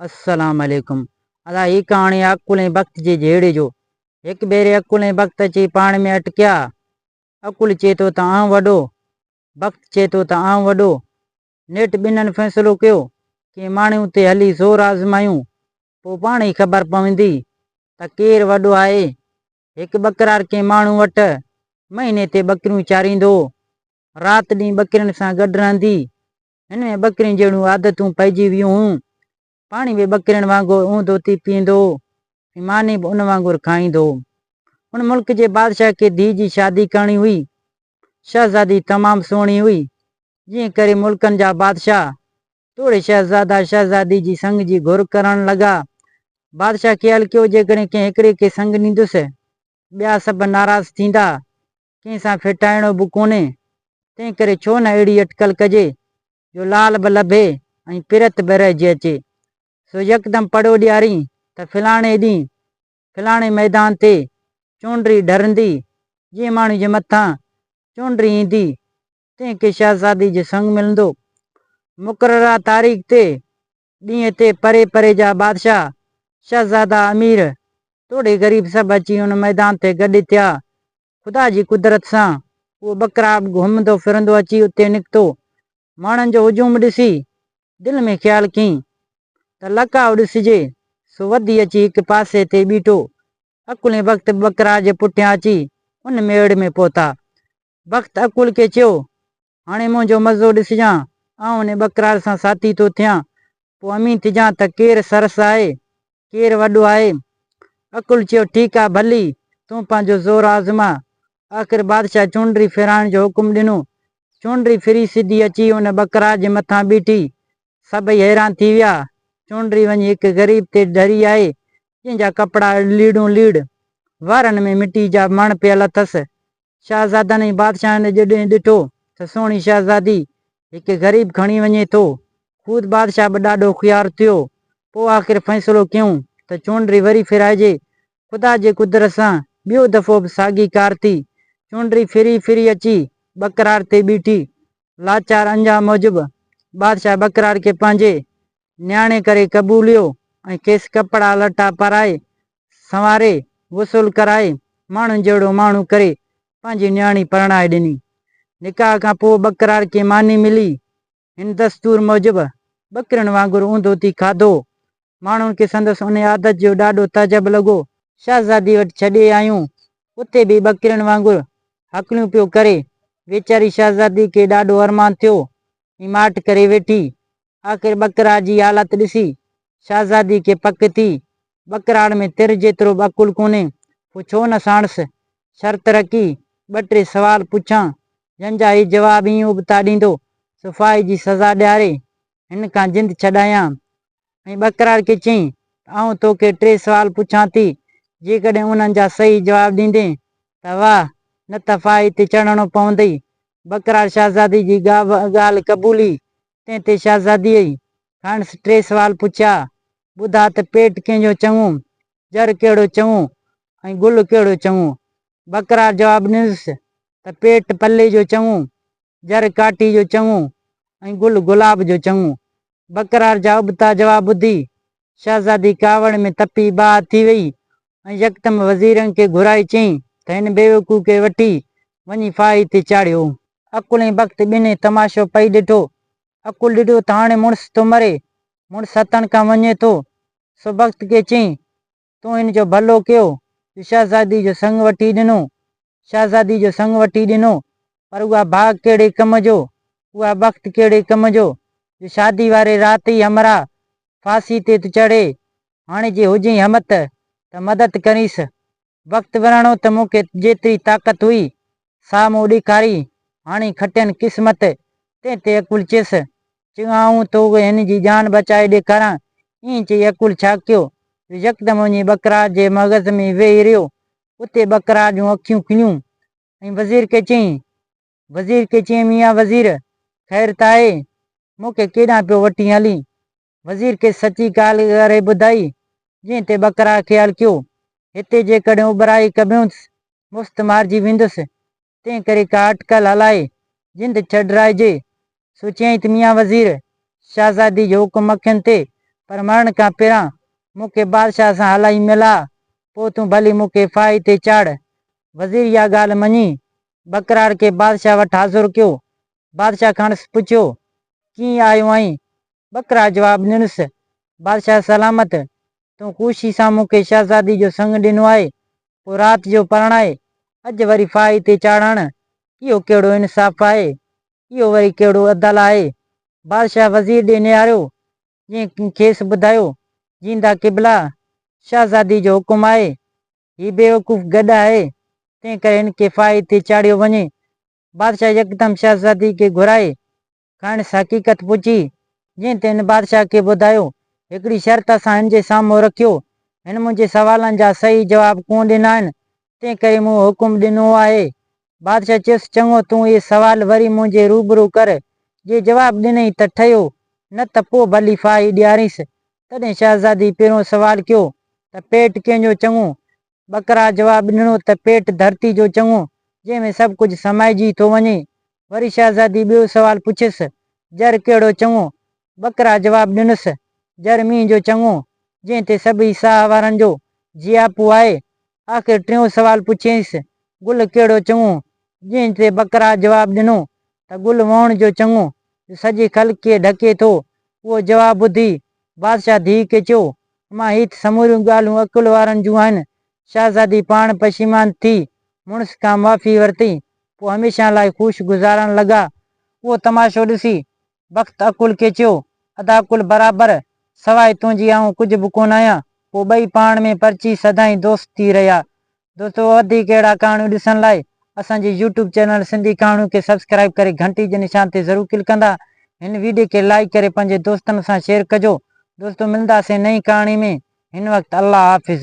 السلام عليڪم ادا هي ڪهاڻي عقل ۽ بخت جي جهيڙي جو هڪ ڀيري عقل ۽ بخت اچي پاڻ ۾ اٽڪيا عقل چئي ٿو ته آئون وڏو بخت چئي ٿو ته آئون وڏو نيٺ ٻنهن فيصلو ڪيو ڪنهن ماڻهي اتي هلي زور آزمايون پوء پاڻ ئي خبر پوندي ته ڪير وڏو آهي هڪ ٻڪرار ڪنهن ماڻهو وٽ مهيني تي ٻڪريون چاريندو هو رات ڏينهن ٻڪرين سان گڏ رهندي هن ۾ ٻڪرين جهڙيون عادتون پئجي ويون هيون. پاڻي به ٻڪرين وانگر اونهه ڌوتي پيئندو هو ۽ ماني به ان وانگر کائيندو هو. ان ملڪ جي بادشاهه کي ڌيء جي شادي ڪرڻي هئي. شهزادي تمام سهڻي هئي، جنهن ڪري ملڪن جا بادشاهه توڙي شهزادا شهزادي جي سڱ جي گهر ڪرڻ لڳا. بادشاهه خيال ڪيو جيڪڏهن ڪنهن هڪڙي کي سڱ ڏيندس، ٻيا سڀ ناراض ٿيندا ڪنهن سان ڦيٽائڻو به ڪونهي، تنهن ڪري ڇو نه اهڙي اٽڪل ڪجي، جو لال به لڀي ۽ پرت به رهجي اچي. سو يڪدم پڙو ڏيارين ته فلاڻي ڏينهن، فلاڻي ميدان تي چونڊري ڍرندي، جنهن ماڻهوء جي مٿان چونڊري ايندي، تنهن کي شهزادي جو سڱ ملندو. مقرره تاريخ تي ڏينهن تي پري پري جا بادشاهه، شهزادا، امير، توڙي غريب سڀ اچي ان ميدان تي گڏ ٿيا. خدا جي قدرت سان اهو ٻڪرا به گهمندو ڦرندو اچي اتي نڪتو. ماڻهن جو هجوم ڏسي دل ۾ خيال ڪين ته لڪاء ڏسجي، سو وڌي اچي هڪ پاسي تي ٻيٺو. اڪلين بخت به ٻڪرا جي پٺيان اچي ان ميڙ ۾ پهتا. بخت اڪول کي چيو هاڻي منهنجو مزو ڏسجان، آئون ان ٻڪرار سان ساٿي ٿو ٿيان، پوء امين ٿجان ته ڪير سرس آهي، ڪير وڏو آهي. اڪل چيو، ٺيڪ آ، ڀلي تون پنهنجو زور آزما. آخر بادشاهه چونڊري ڦيرائڻ جو حڪم ڏنو. چونڊري ڦري سڌي اچي ان ٻڪرار جي مٿان بيٺي. سڀئي حيران ٿي ويا. چونڊري وڃي هڪ غريب تي ڍري آئي، جنهن جا ڪپڙا اڙ ليڙون ليڙ. وارن ۾ مٽي جا مڻ پيل اٿس. شاهزادن ۽ بادشاهن جڏهن ڏٺو ته سهڻي شاهزادي هڪ غريب کڻي وڃي ٿو، خود بادشاهه به ڏاڍو خويار ٿيو. پوء آخر فيصلو ڪيون ته چونڊري وري ڦيرائجي. خدا جي قدرت سان ٻيو دفعو به ساڳي ڪار ٿي. چونڊري ڦري ڦري اچي ٻڪراڙ تي بيٺي. لاچار انجام موجب بادشاهه ٻڪراڙ کي پنهنجي نياڻي ڪري قبوليو ۽ کيس ڪپڙا لٽا پارائي، سنواري، غسل ڪرائي، ماڻهن جهڙو ماڻهو ڪري پنهنجي نياڻي پرڻائي ڏني. نڪاح کان پوء ٻڪرار کي ماني ملي. هن دستور موجب ٻڪرين وانگر اونڌو ٿي کاڌو. ماڻهن کي سندس انهي عادت جو ڏاڍو تعجب لڳو. شهزادي وٽ ڇڏي آيون. اتي به ٻڪرين وانگر هڪليون پيو ڪري. ويچاري شهزادي کي ڏاڍو ارمان ٿيو ۽ ماٺ ڪري ويٺي. آخر ٻڪراڙ جي حالت ڏسي شهزادي کي پڪ ٿي، ٻڪراڙ ۾ تر جيترو به عقل ڪونهي، پوء ڇو نه ساڻس شرط رکي ٻه ٽي سوال پڇان، جن جا هي جواب ائين ابتا ڏيندو سو ڦاهي جي سزا ڏياري هن کان جند ڇڏايان. ۽ ٻڪراڙ کي چيائين ته آئون توکي ٽي سوال پڇان ٿي، جيڪڏهن انهن جا صحيح جواب ڏيندين ته واهه، نه ته ڦاهي تي چڙهڻو پوندئي. ٻڪراڙ شهزادي جي ڳالهه قبولي تنهن تي شهزاديء کانئس ٽي سوال پڇيا، ٻڌاء ته پيٽ ڪنهن جو چڱو، ڄر ڪهڙو چڱو ۽ گل ڪهڙو چڱو؟ بڪرار جواب ڏنس ته پيٽ پلي جو چڱو، ڄر ڪاٽي جو چڱو ۽ گل گلاب جو چڱو. بڪرار جا ابتا جواب ٻڌي شهزادي ڪاوڙ ۾ تپي ٻاهه ٿي وئي ۽ يڪدم وزيرن کي گهرائي چيائين ته هن بيوقوف کي وٺي وڃي ڦاهي تي چاڙهيو. عقل ۽ بخت ٻنهي تماشو پئي ڏٺو. عقل ڏٺو ته هاڻي مڙس ٿو مري، مڙس هٿن کان وڃي ٿو، سو بخت کي چيائين، تون هن جو ڀلو ڪيو جو شهزادي جو سڱ وٺي ڏنو، شهزادي جو سڱ وٺي ڏنو، پر اها ڀاڳ ڪهڙي ڪم جو، اها بخت ڪهڙي ڪم جو، جو شادي واري رات ئي همراهه ڦاسي تي ٿو چڙهي. هاڻي جي هجئين همت، ته مدد ڪرينس. بخت ورهاڻو ته مون کي جيتري طاقت هئي، سا مون ڏيکاري، هاڻي کٽين قسمت، تنهن تي اڪول چيس، چه آئون تو کي هن جي جان بچائي ڏيکاران. ائين چئي اڪول ڇا ڪيو، جو يڪدم وڃي ٻڪرا جي مغز ۾ ويهي رهيو، اتي ٻڪرا جون اکيون کنيون ۽ وزير کي چيائين، وزير کي چيائين، ميان وزير! خير ته آهي، مون کي ڪيڏانهن پيو وٺين هلين؟ وزير کيس سچي ڳالهه ڪري ٻڌائي، جنهن تي ٻڪرا کي هلڪيو، هتي جيڪڏهن اٻهرائي ڪبيونس، مفت مارجي ويندس. تنهن ڪري ڪا اٽڪل هلائي جند ڇڏرائجي. سوچيائين ته ميان وزير شهزادي جو حڪم اکين تي پر مرڻ کان پهران مون کي بادشاهه سان هلائي ملاء، پوء تون ڀلي مون کي ڦاهي تي چاڙهه. وزير اها ڳالهه مڃي ٻڪراڙ کي بادشاهه وٽ حاضر ڪيو. بادشاهه کانئس پڇيو، ڪيئن آيو آهين؟ ٻڪرا جواب ڏنس، بادشاهه سلامت، تون خوشي سان مون کي شهزادي جو سڱ ڏنو آهي، پوء رات جو پرڻائي، اڄ وري ڦاهي تي چاڙهڻ، اهو ڪهڙو انصاف آهي؟ اهو وري ڪهڙو عدل آهي؟ بادشاهه وزير ڏي نهاريو، جنهن کيس ٻڌايو، جيندا قبلا! شهزادي جو حڪم آهي، هي بيوقوف گڏ آهي، تنهنڪري هن کي ڦاهي تي چاڙهيو وڃي. بادشاهه يڪدم شهزادي کي گهرائي، کڻس حقيقت پڇي، جنهن تي هن بادشاهه کي ٻڌايو، هڪڙي شرط اسان هن جي سامهون رکيو، هن منهنجي سوالن جا صحيح جواب ڪونه ڏنا آهن، تنهن ڪري مون حڪم ڏنو آهي. بادشاهه چيس، چڱو، تون اهي سوال وري منهنجي روبرو ڪر، جي جواب ڏنئي ته ٺهيو، نه ته پوء ڀلي ڦاهي ڏيارينس. تڏهن شهزادي پهريون سوال ڪيو ته پيٽ ڪنهن جو چڱو؟ ٻڪرا جواب ڏنو ته پيٽ ڌرتي جو چڱو، جنهن ۾ سڀ ڪجهه سمائجي ٿو وڃي. وري شهزادي ٻيو سوال پڇيس، جر ڪهڙو چڱو؟ ٻڪرا جواب ڏنس، جر مينهن جو چڱو، جنهن تي سڀئي ساهه وارن جو جياپو آهي. آخر ٽيون سوال پڇيائينس، گل ڪهڙو چڱو؟ جنهن تي ٻڪرا جواب ڏنو ته گل وهڻ جو چڱو، جو سڄي خلق کي ڍڪي ٿو. اهو جواب ٻڌي بادشاهه ڌيء کي چيو، اما هي ته سموريون ڳالهون عقل وارن جون آهن. شهزادي پاڻ پشيمان ٿي مڙس کان معافي ورتئي. پوء هميشه لاء خوش گذارڻ لڳا. اهو تماشو ڏسي بخت عقل کي چيو، ادا عقل برابر، سواء تنهنجي آئون ڪجهه به ڪونه آهيان. پوء ٻئي پاڻ ۾ پرچي سدائين دوست ٿي رهيا. دوستو وڌيڪ اهڙا ڪهاڻيون ڏسڻ لاء اسان جي يوٽيوب چينل سنڌي ڪهاڻيون کي سبسڪرائيب ڪري گهنٽي جي نشان تي ضرور ڪلڪ ڪندا هن ويڊيو کي لائيڪ ڪري پنهنجي دوستن سان شيئر ڪجو دوستو ملنداسين نئين ڪهاڻي ۾ هن وقت الله حافظ.